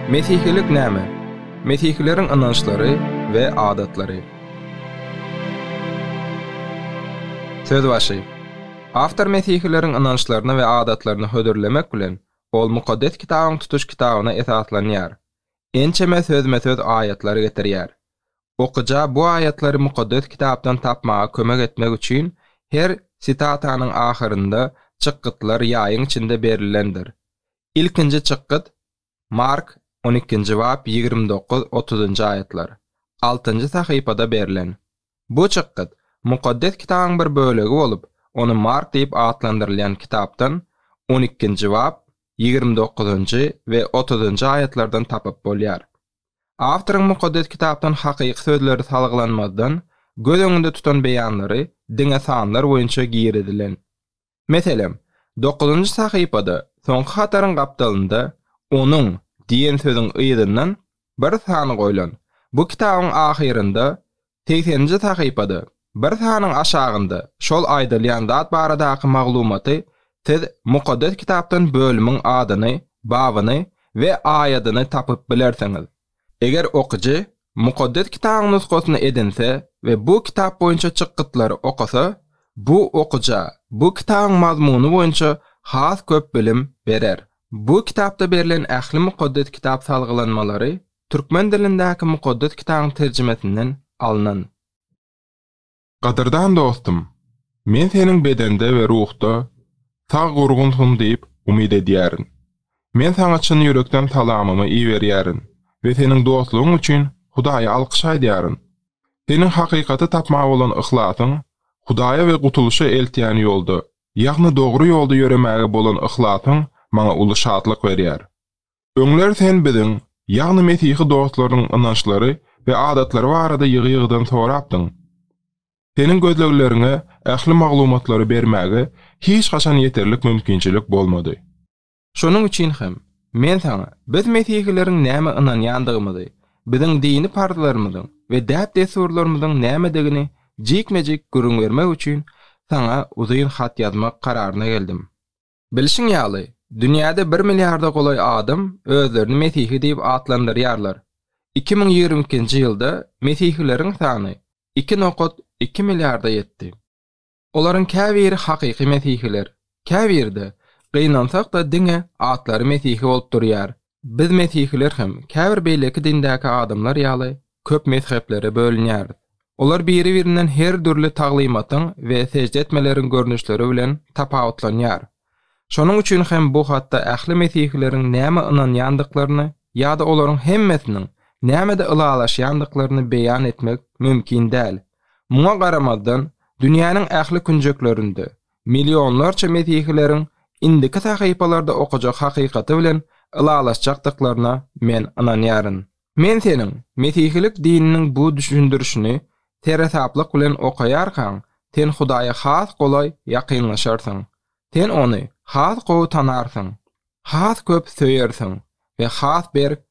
Mesihilik näme? Mesihileriň ynançlary we adatlary. Söz başy. Awtor mesihileriň ynançlaryny we adatlaryny hödürlemek bilen, ol Mukaddes Kitabyň tutuş kitabyna esaslanýar. Ençeme sözme-söz aýatlary getirýär. Okyja bu aýatlary Mukaddes Kitapdan tapmaga kömek etmek üçin her sitatanyň ahyrynda çykgytlar ýaýyň içinde berilendir. Ilkinji çykgyt Mark on ikinji bap ýigrimi dokuz, otuzynjy aýatlar, altynjy sahypada berlen. Bu çykgyt Mukaddes Kitabyň bir bölegi bolup, ony Mark diýip atlandyrylýan kitapdan on ikinji bap ýigrimi dokuzynjy we otuzynjy aýatlardan tapyp bolýar. Awtoryň Mukaddes Kitapdan hakyky sözleri salgylanmazdan, göz öňünde tutan beýanlary diňe sanlar boýunça girizilen. Meselem, dokuzynjy sahypada, soňky hataryň gapdalynda Onuň diýen sözüň yzyndan bir san goýlan. Bu kitabyň ahyrynda Segseninji sahypada, bir sanyň aşagynda şol aýdylýan zat baradaky maglumaty siz Mukaddes Kitapdan bölümiň adyny, babyny we aýadyny tapyp bilersiňiz. Eger okyjy Mukaddes Kitabyň nusgasyny edinse we bu kitap boýunça çykgytlary okasa, bu okyja bu kitabyň mazmuny boýunça has köp bilim berer. Bu kitapda berlen ähli Mukaddes Kitap salgylanmalary Türkmen dilindäki Mukaddes Kitabyň terjimesinden alnan. Gadyrdan dostum, men seniň bedende we ruhda sag-gurgunsyň diýip umyt edýärin. Men saňa çyn ýürekden salamymy iberýärin we seniň dostlugyň üçin Hudaýa alkyş aýdýaryn. Seniň hakykaty tapmaga bolan yhlasyň, Hudaýa we gutulyşa eltýän ýolda, ýagny dogry ýolda ýöremäge bolan yhlasyň maňa uly şatlyk berýär. Öňler sen biziň, ýagny mesihi dostlaryň ynançlary we adatlary barada ýygy-ýygydan sorapdyň. Seniň gözlegleriňe ähli maglumatlary bermäge hiç haçan ýeterlik mümkinçilik bolmady. Şonuň üçin hem, men saňa biz mesihileriň nämä ynanýandygymyzy, biziň dini parzlarymyzyň we däp-dessurlarymyzyň nämedigini jikme-jik gürrüň bermek üçin saňa uzyn hat ýazmak kararyna geldim. Bilşiň ýaly, dünýäde bir milliarda golaý adam özlerini mesihi diýip atlandyrýarlar. Iki müň ýigrimi ikinji ýylda mesihileriň sany iki nokat iki milliarda ýetdi. Olaryň käbiri hakyky mesihiler, käbiri-de, gynansak-da, diňe atlary mesihi bolup durýar. Biz mesihiler hem, käbir beýleki dindäki adamlar ýaly, köp mezheplere bölünýäris. Olar biri-birinden her dürli taglymatyň we sežde etmeleriň görnüşleri bilen tapawutlanýar. Şonuň üçin hem bu hatda ähli mesihileriň nämä ynanýandyklaryny ýa-da olaryň hemmesiniň nämede ylalaşýandyklaryny beýan etmek mümkin däl. Muňa garamazdan, dünýäniň ähli künjeklerinde, millionlarça mesihileriň indiki sahypalarda okajak hakykaty bilen ylalaşjakdyklaryna men ynanýaryn. Men seniň Mesihilik dininiň bu düşündirişini seresaplyk bilen okaýarkaň, sen Hudaýa has golaý ýakynlaşarsyň. Sen Ony has gowy tanarsyň, has köp söýersiň we has berk